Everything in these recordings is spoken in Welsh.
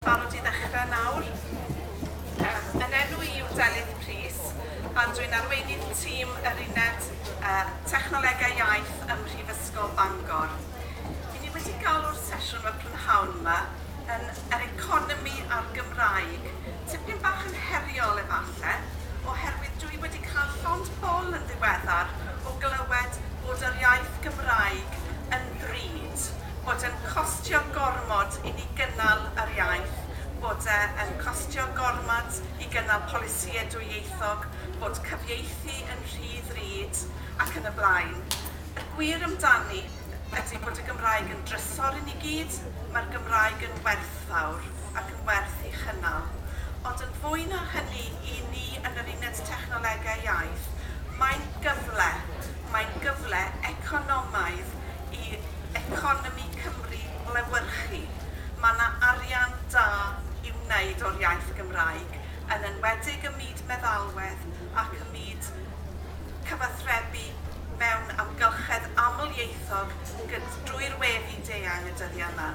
Barod i ddechrau nawr. Yym, yn enw i yw Delyth Prys a dwi'n arweinydd tîm yr Uned yy Technolegau Iaith ym Mhrifysgol Bangor. I ni wedi galw'r sesiwn yma prynhawn yma yn Yr Economi a'r Gymraeg. Tipyn bach yn heriol efalle, oherwydd dwi wedi cael llond bol yn ddiweddar o glywed bod yr iaith Gymraeg yn bri. pwynt bod yn costio gormod i ni gynnal yr iaith, bod e yn costio gormod i gynnal polisïau dwyieithog, bod cyfieithu yn rhy ddrud, ac yn y blaen. Y gwir amdani ydy bod y Gymraeg yn drysor i ni gyd, mae'r Gymraeg yn werthfawr ac yn werth ei chynnal. Ond yn fwy na hynny, i ni yn yr Uned Technolegau Iaith, mae'n gyfle, mae'n gyfle economaidd, i economi Cymru lewyrchu. Mae 'na arian da i wneud o'r iaith Gymraeg, yn enwedig ym myd meddalwedd ac ym myd cyfathrebu mewn amgylchedd amlieithog gyd- drwy'r we fyd-eang y dyddiau 'ma.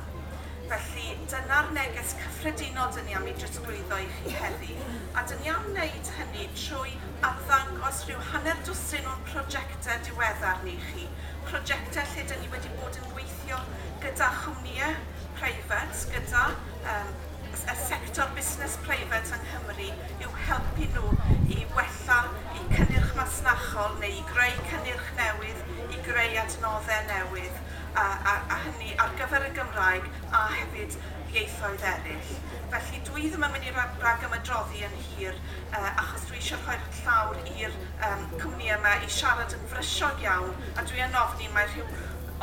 Felly, dyna'r neges cyffredinol 'dyn ni am ei drosglwyddo i chi heddi, a 'dyn ni am wneud hynny trwy arddangos rhyw hanner dwsin o'n prosiectau diweddar ni i chi. Prosiectau lle dyn ni wedi bod yn gweithio gyda chwmnïau preifat, gyda yym y sector busnes preifat yng Nghymru yw helpu nhw i wella eu cynnyrch masnachol neu i greu cynnyrch newydd, i greu adnoddau newydd a a a hynny ar gyfer y Gymraeg a hefyd ieithoedd eraill. Felly dwi ddim yn mynd i ra- ragymadroddi yn hir yy achos dwi eisiau rhoi'r llawr i'r yr cwmni yma i siarad yn frysiog iawn a dwi yn ofni mae rhyw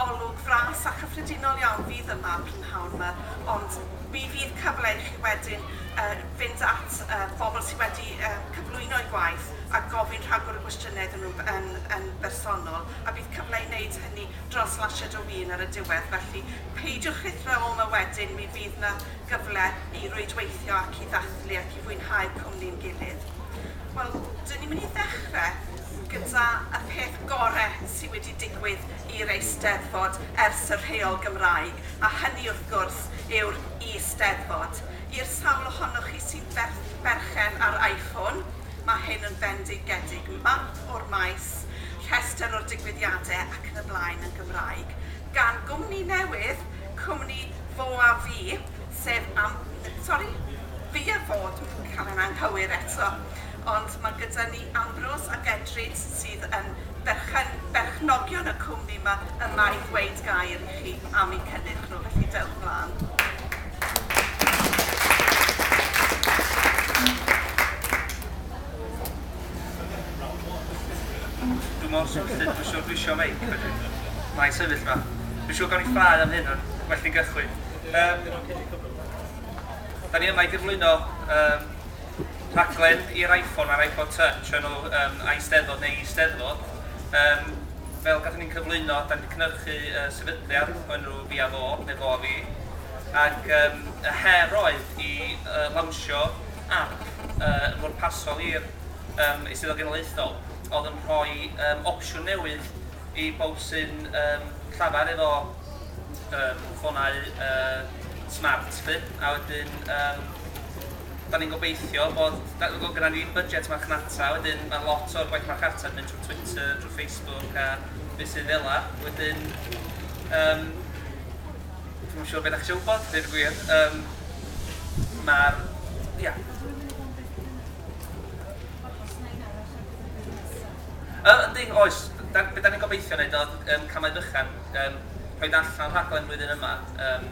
olwg fras a chyffredinol iawn fydd yma prynhawn yma ond mi fydd cyfle i chi wedyn uh, fynd at uh, bobl sydd wedi uh, cyflwyno eu gwaith a gofyn rhagor o gwestiynau iddyn nhw yn, yn bersonol a bydd cyfle i wneud hynny dros lasied o win ar y diwedd felly peidiwch rhithra o yma wedyn mi fydd na gyfle i rwydweithio ac i ddathlu ac i fwynhau cwmni'n gilydd. Wel, dyn ni'n mynd i ddechrau gyda y peth gorau sydd wedi digwydd i'r Eisteddfod ers y rheol Gymraeg, a hynny wrth gwrs yw'r Eisteddfod. I'r sawl ohonoch chi sy'n berchen ar iPhone, mae hyn yn fendigedig, map o'r maes, rhestr o'r digwyddiadau ac yn y blaen yn Gymraeg, gan gwmni newydd, cwmni Fo a fi, sef am-, sori, fi a fo, dwi'n cael e'n anghywir eto, ond mae gyda ni Ambrose ac Edrid sydd yn berchen, berchnogion y cwmni 'ma, yma i ddweud gair i chi am eu cynnyrch nhw, felly dewch mlaen. Dwi mor swnllyd, dwi siwr dwi isio meic wedyn. Mae'n sefyll 'ma. Dwi'n siwr gawn ni ffrae am hyn, ond well fi gychwyn. Yym, da ni yma i gyflwyno um, rhaglen i'r iPhone a'r iPod Touch o'r enw um, Eisteddfod neu Eisteddfod. Um, fel gathon ni'n cyflwyno, da ni wedi cynhyrchu uh, sefydliad o'r enw Fi a Fo, neu Fo a Fi. Ac um, y her oedd i uh, lawnsio ap yn bwrpasol i'r Eisteddfod Genedlaethol oedd yn rhoi opsiwn newydd i bawb sy'n llafar efo ffonau smart 'lly a wedyn 'dan ni'n gobeithio bod... doedd gynna i ddim budget marchnata wedyn mae lot o'r gwaith marchnata'n mynd trwy Twitter, trwy Facebook a meysydd fela wedyn. Dwi'm yn siŵr be dach chi isio wybod, deud y gwir. Yym, ma'r... ia. Yy, yndi, oes. Da- be da ni'n gobeithio wneud oedd yym camau bychan, yym rhoid allan rhaglen flwyddyn yma yym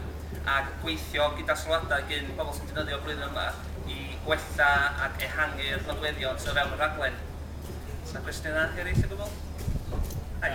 ac gweithio gyda sylwadau gin pobl sy'n defnyddio blwyddyn yma i wella ac ehangu'r nodweddion sydd o fewn y rhaglen. Oes 'na gwestiynau eraill o gwbl? Ai.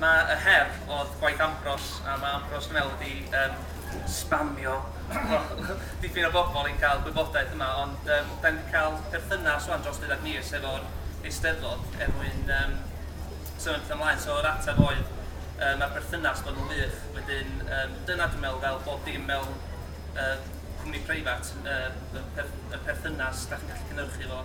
Mae y her odd gwaith Ambrose a mae Ambrose dwi me'wl wedi yym sbamio dipyn o bobl i ca'l gwybodaeth yma ond yym 'da ni 'di ca'l perthynas ŵan dros deuddag mis efo'r Eisteddfod er mwyn yym symud petha mlaen so yr ateb oedd yy ma'r perthynas bod yn wych wedyn yym dyna dwi'n me'wl fel bob dim mewn yy cwmni preifat yy y perth- y perthynas 'da chi'n gallu cynyrchu fo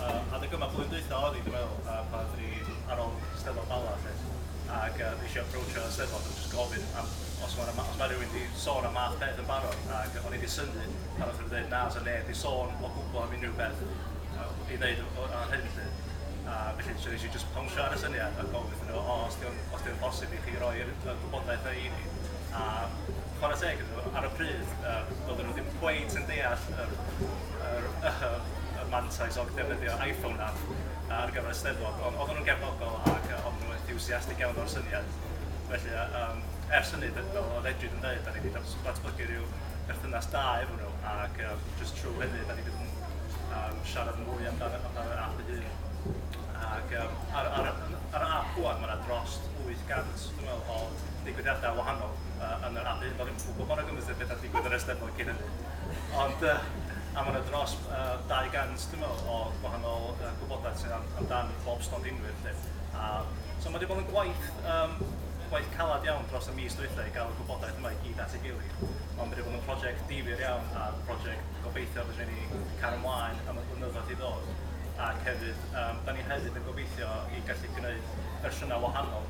Yym adeg yma blwyddyn dwytha odd 'i dwi meddwl a pan dwi ar ol Steddfod Bala 'lly ag yy nesh i aproachio y Steddfod a jyst gofyn am os ma' 'na ma' os ma' rywun 'di sôn am math peth yn barod ag o'n i 'di synnu pan nath o ddeud na sa neb 'di sôn o gwbwl am unrhyw beth yy i ddeud o ar hyn 'lly a felly so nesh i jyst pawnsio ar y syniad a gofyn wrthyn n'w o os 'di o'n os 'di o'n bosib i chi roi'r yy gwybodaeth 'na i ni a Chwarae teg iddyn nhw, ar y pryd yym doedden nhw ddim cweit yn deall yr yr yy y mantais o ddefnyddio iPhone app ar gyfer y Steddfod, ond oedden nhw'n gefnogol ac yy oedden nhw'n enthusiastic iawn o'r syniad. Felly yy yym ers hynny, d- fel oedd Edwyn yn dweud, dan ni 'di dat- datblygu rhyw berthynas da efo nhw ac yym jyst trwy hynny dan ni 'di bod yn yym siarad mwy amdan y amdan yr ap ei hun. Ac yym ar ar y ar y ap rŵan ma' 'na drost wyth gant Dwi'n meddwl bod digwyddiadau wahanol yn yr Abbey, do'n i'm yn gwybod mor agymwys â beth oedd digwydd yn yr Eisteddfod cyn hynny. Ond yy a mae 'na dros yy 200 dwi'n meddwl o wahanol yy gwybodaeth sydd am amdan bob stondinwyr 'lly. A so mae 'di bod yn gwaith yym gwaith caled iawn dros y mis dwytha i gael y gwybodaeth yma i gyd at ei gilydd. Ond mae 'di bod yn project difyr iawn a project gobeithio fedrwn ni cario ymlaen am y blynyddoedd i ddod. Ac hefyd yym 'dan ni hefyd yn gobeithio i gallu gneud fersiynau wahanol